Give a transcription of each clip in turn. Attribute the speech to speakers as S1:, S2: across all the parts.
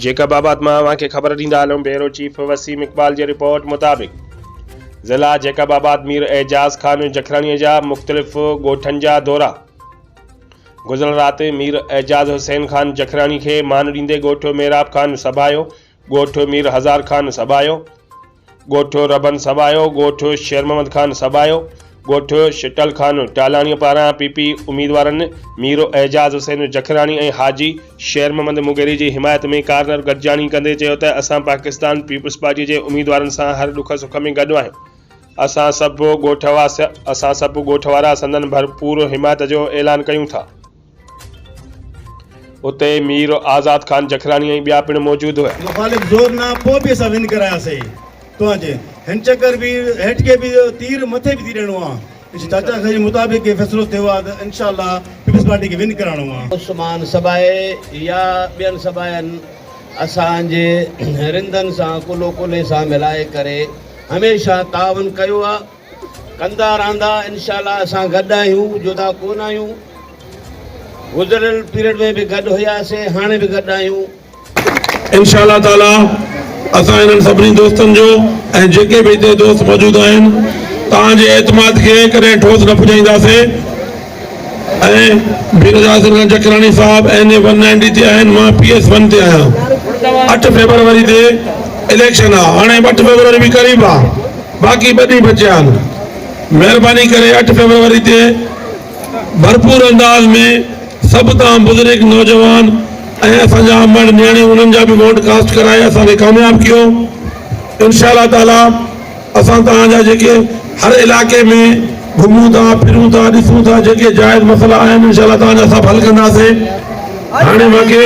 S1: Jacob آباد مان اوهان کي خبر ڏيندا هلون بيورو چيف وسيم اقبال جي رپورٽ مطابق ضلع جيڪب آباد مير اعجاز خان جکراڻي جا مختلف ڳوٺن جا دورا گذريل رات مير اعجاز حسين خان جکراڻي کي مان ڏيندي ڳوٺ ميراب خان سڀايو ڳوٺ مير هزار خان سڀايو ڳوٺ ربن سٻايو، ڳوٺ شير محمد خان سٻايو، ڳوٺ شٽل خان ٽالاڻيء پاران پي پي اميدوارن مير اعجاز حسين جکراڻي ۽ حاجي شير محمد مغيري جي حمايت ۾ ڪارنر گڏجاڻي ڪندي چيو ته اسان پاڪستان پيپلز پارٽيء جي اميدوارن سان هر ڏک سک ۾ گڏ آهيون، اسان سڀ ڳوٺ واسي، اسان سڀ ڳوٺ وارا سندن ڀرپور حمايت جو اعلان ڪيون ٿا. اتي مير آزاد خان جکراڻي ۽ ٻيا پڻ موجود هئا. مخالف زور نه پوء
S2: به اسان ون ڪرايا سي توهان جي هن چڪر به هيٺ کي به تير مٿي به ٿي ڏيڻو آ انشاء چاچا سائين مطابق هي فيصلو ٿيو آ ته انشاء الله پيپلز پارٽي کي ون ڪراڻو آ. عثمان سبائي
S3: يا ٻين سباين اسان جي رندن سان ڪلهو ڪلهي سان ملائي ڪري هميشه تعاون ڪيو آ. ڪندا رھندا انشاء الله اسان گڏ آھيون جدا ڪون آھيون گذريل پيريڊ ۾ به گڏ ھيا سين ھاڻي به گڏ آھيون. انشاء
S4: الله تعالي اسان انھن سڀني دوستن جو ۽ جيڪي به ھتي دوست موجود آھن توھان جي اعتماد کي ڪڏھن ٺوس نه پڄائينداسين. ۽ بي نظار سنگھا جکراڻي صاحب اين اي ون نائنٽي تي آهن مان پي ايس ون تي آهيان اٺ فيبروري تي اليڪشن آ هاڻي اٺ فيبروري به قريب آ باقي ٻه ڏينهن بچيا آهن مهرباني ڪري اٺ فيبروري تي ڀرپور انداز ۾ سڀ تان بزرگ نوجوان ۽ اسان جا امڙ نياڻيون انهن جا به ووٽ ڪاسٽ ڪرائي اسان کي ڪامياب ڪيو انشاء الله تعالي اسان توهان جا جيڪي هر علائقي ۾ گهمون ٿا ڦرون ٿا ڏسون ٿا جيڪي جائز مسئلا آهن انشاء الله توهان جا سڀ حل ڪنداسين هاڻي ماکي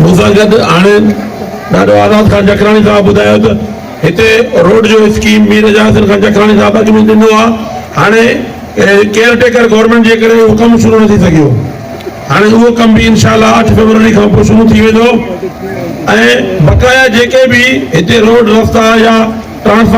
S4: مون سان گڏ هاڻي ڏاڏو آزاد خان جکراڻي صاحب ٻڌايو ته هتي روڊ جو اسڪيم مير اعجاز حسين خان جکراڻي صاحب اڳ ۾ ڏنو آهي هاڻي ڪيئر ٽيڪر گورنمينٽ جي ڪري اهو ڪم شروع نه ٿي سگهيو هاڻي اهو ڪم به انشاء الله اٺ فيبروري کان پوء شروع ٿي ويندو ۽ بقايا جيڪي به هتي روڊ رستا يا ٽرانسفارمر